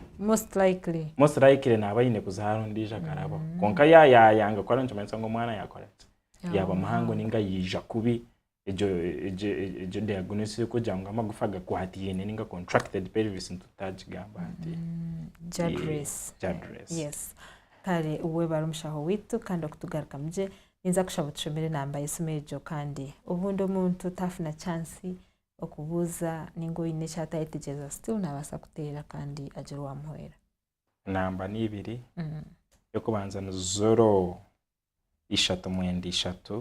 most likely naaba aine kuzaara ondiijo akarabaho. Kwonka yaaba yaayanga kukora nikimanyisa ngu omwana yaakora ki? Yaaba muhango nainga yaija kubi. Egyo diagnosis erikugira ngu amagufa gakwataine nainga contracted pelvis nikwo tutaagigamba hati. Kare webare mushaho waitu kandi okutugarukamu gye. Ninza kushaba otushomere enamba y'esimu egyo kandi obundi omuntu tafuna chance okubuuza ninga oyine eki atayetegyereza still nabasa kuteera kandi agira owamuhwera. Enamba ni ibiri, eyokubanza ni zoro ishatu mwenda ishatu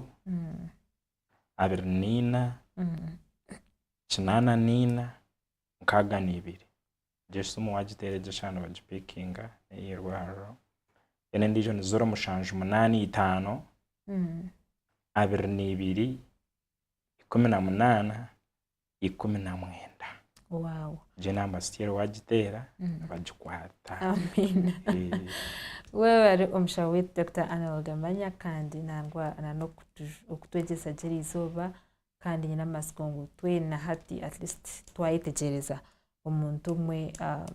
abiri na ina kinana na ina nkaga na ibiri. Egyo simu wagiteera egyo eshaaha nibagipikinga ey'eirwariro. Then endiijo ni ziro mushanju munaana itaano, abiri na ibiri, ikumi na munaana, ikumi na mwenda. Egyo naamba still wagiteera nibagikwata. Webare omushaho waitu Dokita Arnold Amanya kandi nangwa nanokutwegyesa gye erizooba kandi nyine amatsiko ngu twena hati at least twayetegyereza omuntu omwe ah,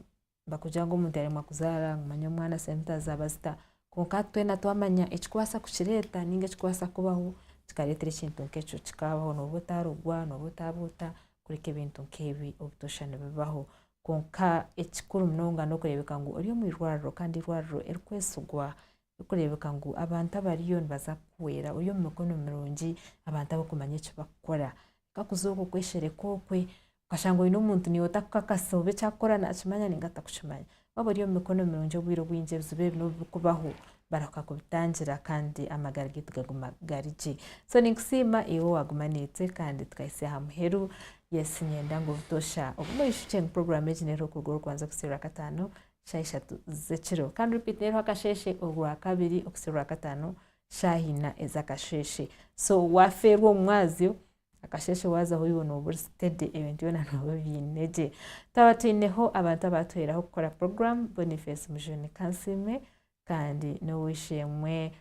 bakugira ngu omuntu yaremwa kuzaara manya omwana sente zaaba zita kwonka hati twena twamanya ekikubaasa kukireeta ninga ekikubaasa kubaho kikareetera ekintu nk'ekyo kikaabaho nooba otaarogwa nooba otaaba ota kureka ebintu nk'ebi obutoosha nibibaho kwonka ekikuru munonga n'okureebeka ngu ori omu irwariro kandi eirwariro erikwesigwa Kirikureebeka ngu abantu abariyo nibaza kuhwera ori omu mikono mirungi, abantu abarikumanya eki barikukora. Kwonka kuza okwo kweshereka okwe, okashanga oine omuntu niiwe otarikukakasa oba eki arikukora naakimanya nainga atarikukimanya. Waaba ori omu mikono mirungi obwire obwingi ebizibu ebi n'obu birikubaho, barahuka kubitangira kandi amagara gaitu gaguma gari gye. So ninkusiima iwe owaaguma naitwe kandi tukahitsya aha muheru. Yes niinyenda ngu butoosha ogume oishukye ngu puroguraamu egi n'eruho kuruga orikubanza kuhitsya orwakataano. shaaha ishatu z'ekiro kandi repeat n'eriho akasheeshe orwakabiri okuhitsya orwakataano shaaha ina ez'akasheeshe so waafeerwa omu mwazyo akasheeshe waazaho oiwe nooba ori steady ebintu byona nooba obiine gye twaba twineho abantu abaatuhweraho kukora program Boniface Mujuni Kansiime kandi n'ow'eishe-emwe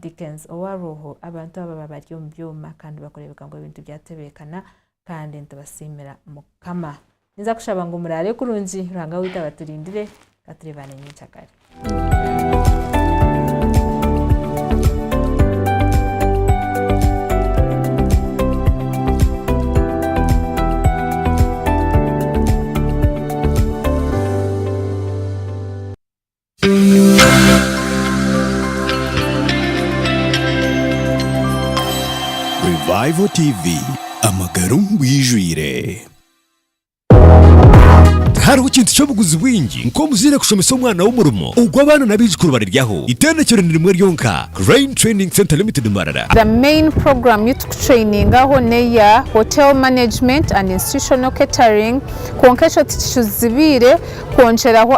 Dickens owarwoho, abantu abo baba bari omu byoma kandi bakureebeka ngu ebintu byatebeekana kandi nitubasiimira Mukama. Ninza kushaba ngu muraare kurungi, Ruhanga waitu abaturindire, ka tureebane nyenkyakare. Revival TV amagara omu bwijwire. Tihariho kintu ky'obuguzi bwingi nk'omuzaire kushomesa omwana we omurimo ogu abaana n'abaijukuru bariryaho. Itendekero ni rimwe ryonka, Crane Training Centre Limited Mbarara. The main program yu tukutrainingaho neya Hotel Management and Institutional Catering kwonka ekyo tikicuzibiire kwongyeraho